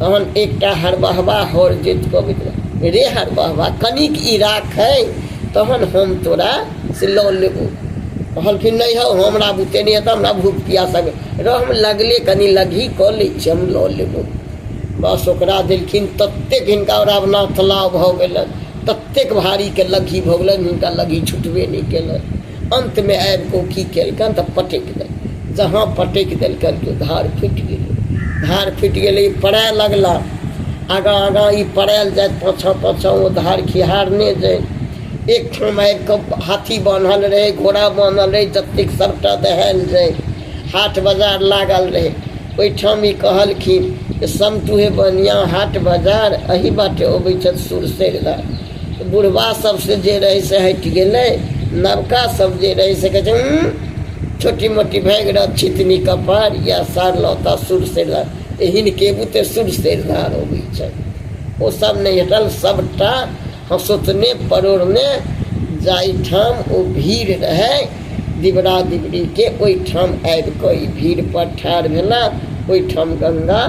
तहन एकटा हरबहबा हर जोति कबैत रहै रे हरबहबा कनिक ई राखै तहन हम तोरा से लऽ लेबौ कहलखिन नहि हौ हमरा बुते नहि हेतौ हमरा भूख पियासक रह हम लगले कनि लगी कऽ लै छी हम लऽ लेबौ बस ओकरा देलखिन ततेक हिनका रामनाथ लाभ भऽ गेलनि ततेक भारीके लग्घी भऽ गेलनि हुनका लग्घी छुटबे नहि केलनि अन्तमे आबि कऽ ओ की केलकनि तऽ पटकि देलकनि जहाँ पटकि देलकनि कि धार फुटि गेलै धार फुटि गेलै ई पड़य लगला आगाँ आगाँ ई पड़ायल जाय पाछाँ पाछाँ ओ धार खिहारने जाय एक ठाम आबि कऽ हाथी बान्हल रहै घोड़ा बान्हल रहै जतेक सभटा दहायल जाय हाट बाजार लागल रहै ओहिठाम ई कहलखिन जे समतुहे बनिया हाट बाजार एही बाटे अबै छथि सुरसरि धार बुढ़वा सब से जे रहे से हटि गेलै नवका सब जे रहे से कहै छै छोटी मोटी भागि रहत छितनी कपार या सार लौता सुर से एहन के बुते सुर से धार अबै छै ओ सब नहि हटल सबटा हंसोतने परोड़ने जाइठाम ओ भीड़ रहै दिवरा दिवरी के ओहिठाम आबि कऽ ई भीड़ पर ठाढ़ भेला ओहिठाम गंगा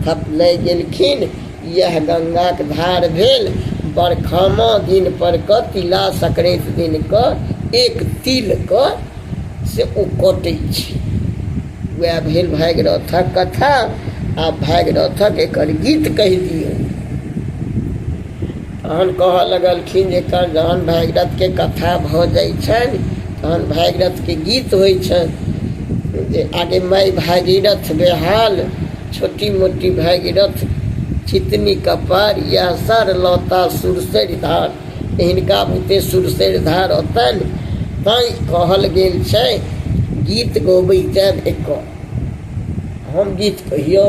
थप लागि गेलखिन इएह गंगाक धार भेल बरखामा दिन पर कऽ तिला संक्रांति दिन कऽ एक तिल कऽ से ओ कटै छै उएह भेल भागीरथक कथा आ भागीरथक एकर गीत कहि दियौ तहन कहऽ लगलखिन जे एकर जहन भागीरथके कथा भऽ जाइ छनि तहन भागीरथके गीत होइ छनि जे आगे माय भागीरथ बेहाल छोटी मोटी भागीरथ चितनी कपार इएह सर लौता सुरसरि धार हिनका बुते सुरसरि धार अतनि तैँ कहल गेल छै गीत गबैतनि एकर हम गीत कहियौ